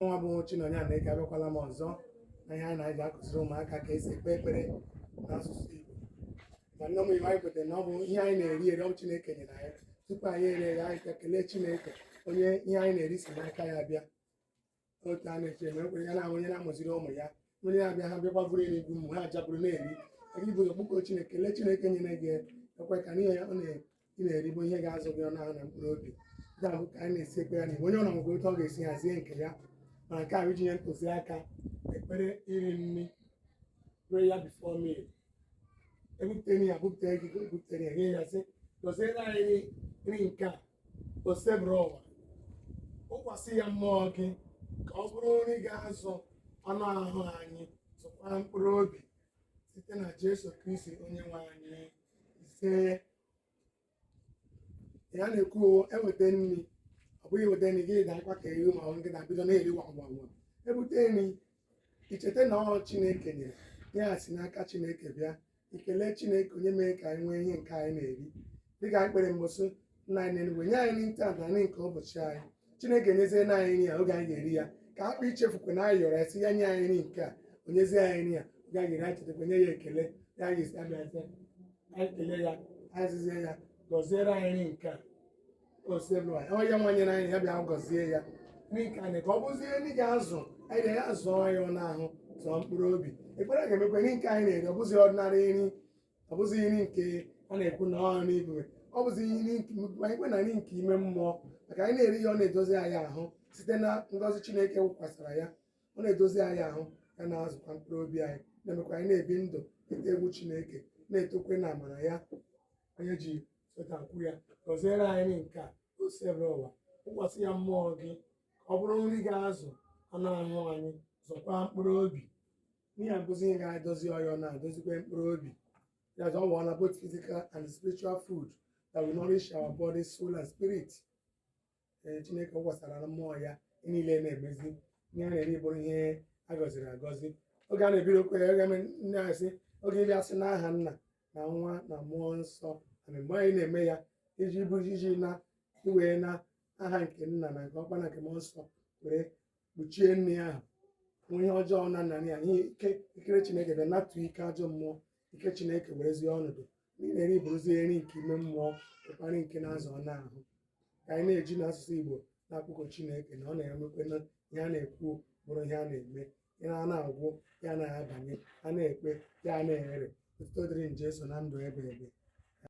nwa bụ Chinonye Anaeke abịakwala m ọzọ na ihe anyị na-eji akụziri ụmụaka ka esi ekpe ekpere n'asụsụ Igbo ma n'ime ihe anyị kwetara na ọ bụ ihe anyị na-eri eri ọ bụ Chineke nyere anyị tupu anyị erie ya anyị kelee Chineke onye ihe anyị na-eri si n'aka ya bịa otu a na-eche eme ekpere ya na onye na-amụziri ụmụ ya onye abịa ha bịakwa buru nri egwu mgbe ha ja-eburu na-eri a ga-ebu ụzọ kpọkuo chineke kelee chineke nyere gị ekwe ka n'ihe ya ọ na-eri bụ ihe ga-azụ gị anụ ahụ na mkpụrụ obi ndị ahụ ka anyị na-esi ekpere na onye ọ na-agwa otu ọ ga-esi hazie nke ya ma nke a bụ iji nye ntụziaka ekpere iri nri prayer before meal ebupụtere ya bupụtere gị bupụtere ya nye ya sị gọziere anyị nri nke a osebụrụ ụwa wụkwasị ya mmụọ gị ka ọ bụrụ nri ga-azụ anụ ahụ anyị zụkwa mkpụrụ obi site na Jesu Kristi onye nwe anyị ise ya na-ekwu eweta nri ọ bụghị eweta nri gị dakwa ka eri ma ọ gị na-abido na-eri ngwa ngwa ngwa ebute nri i cheta na ọ chineke nyere ya si n'aka chineke bịa i kelee chineke onye mere ka anyị nwee ihe nke anyị na-eri dịka anyị kpere mbụ sị nna anyị n'enuigwe nye anyị nri taa na nri nke ụbọchị anyị chineke nyezie na anyị nri ya oge anyị ga-eri ya ka a hapụ ichefukwe na anyị yọrọ ya sị ya nye anyị nri nke a o nyezie anyị nri ya oge anyị ga-eri anyị chetakwa nye ya ekele ya anyị ga-esi abịa sị anyị kelee ya anyị sịzie ya gọziere anyị nri nke a osebụrụ ụwa onye nwa nyere anyị ya bịa gọzie ya nri nke anyị ka ọ bụzie nri ga-azụ anyị na-azụ anyị anụ ahụ zụọ mkpụrụ obi ekpere ga-emekwa nri nke anyị na-eri ọ bụzi ordinary nri ọ bụzi nri nke a na-ekwu na ọha n'igwe ọ bụzi nri anyị kwe na nri nke ime mmụọ maka anyị na-eri ya ọ na-edozi anyị ahụ site na ngọzi Chineke wụkwasara ya ọ na-edozi anyị ahụ ya na-azụkwa mkpụrụ obi anyị na-emekwa anyị na-ebi ndụ ịtụ egwu Chineke na-etokwe na amara ya onye ji sotakwu ya gọziere anyị nke a osebụrụ ụwa wụkwasị ya mmụọ gị ka ọ bụrụ nri ga-azụ anụ ahụ anyị zụkwa mkpụrụ obi Ihe a bụzi ihe ga-edozi ahụ ya na-edozikwa mkpụrụ obi. That's all we want both physical and spiritual food that will nourish our body, soul, and spirit. Ee, Chineke wụkwasara na mmụọ ya ihe niile na-emezi ihe a na-eri bụrụ ihe a gọziri agọzi. Oge a na-ebido okwu ya, oge nne anyị sị oge ịbịa sị n'aha nna na nwa na mmụọ nsọ and mgbe anyị na-eme ya iji bụrụ iji na iwee na aha nke nna na nke ọkpara na nke mmụọ nsọ were kpuchie nri ahụ o nwee ihe ọjọọ nọ na ya ihe ike ikere chineke bịa natụ ike ajọ mmụọ ike chineke werezie ọnọdụ na-eri bụrụzi nri nke ime mmụọ karịa nke na-azụ anụ ahụ ka anyị na-eji n'asụsụ igbo na-akpọku chineke na ọ na-emekwe na ihe a na-ekwu bụrụ ihe a na-eme ihe a na-agwụ ya na-abanye a na-ekpe ya na-ere otuto dịrị jeso na ndụ ebebe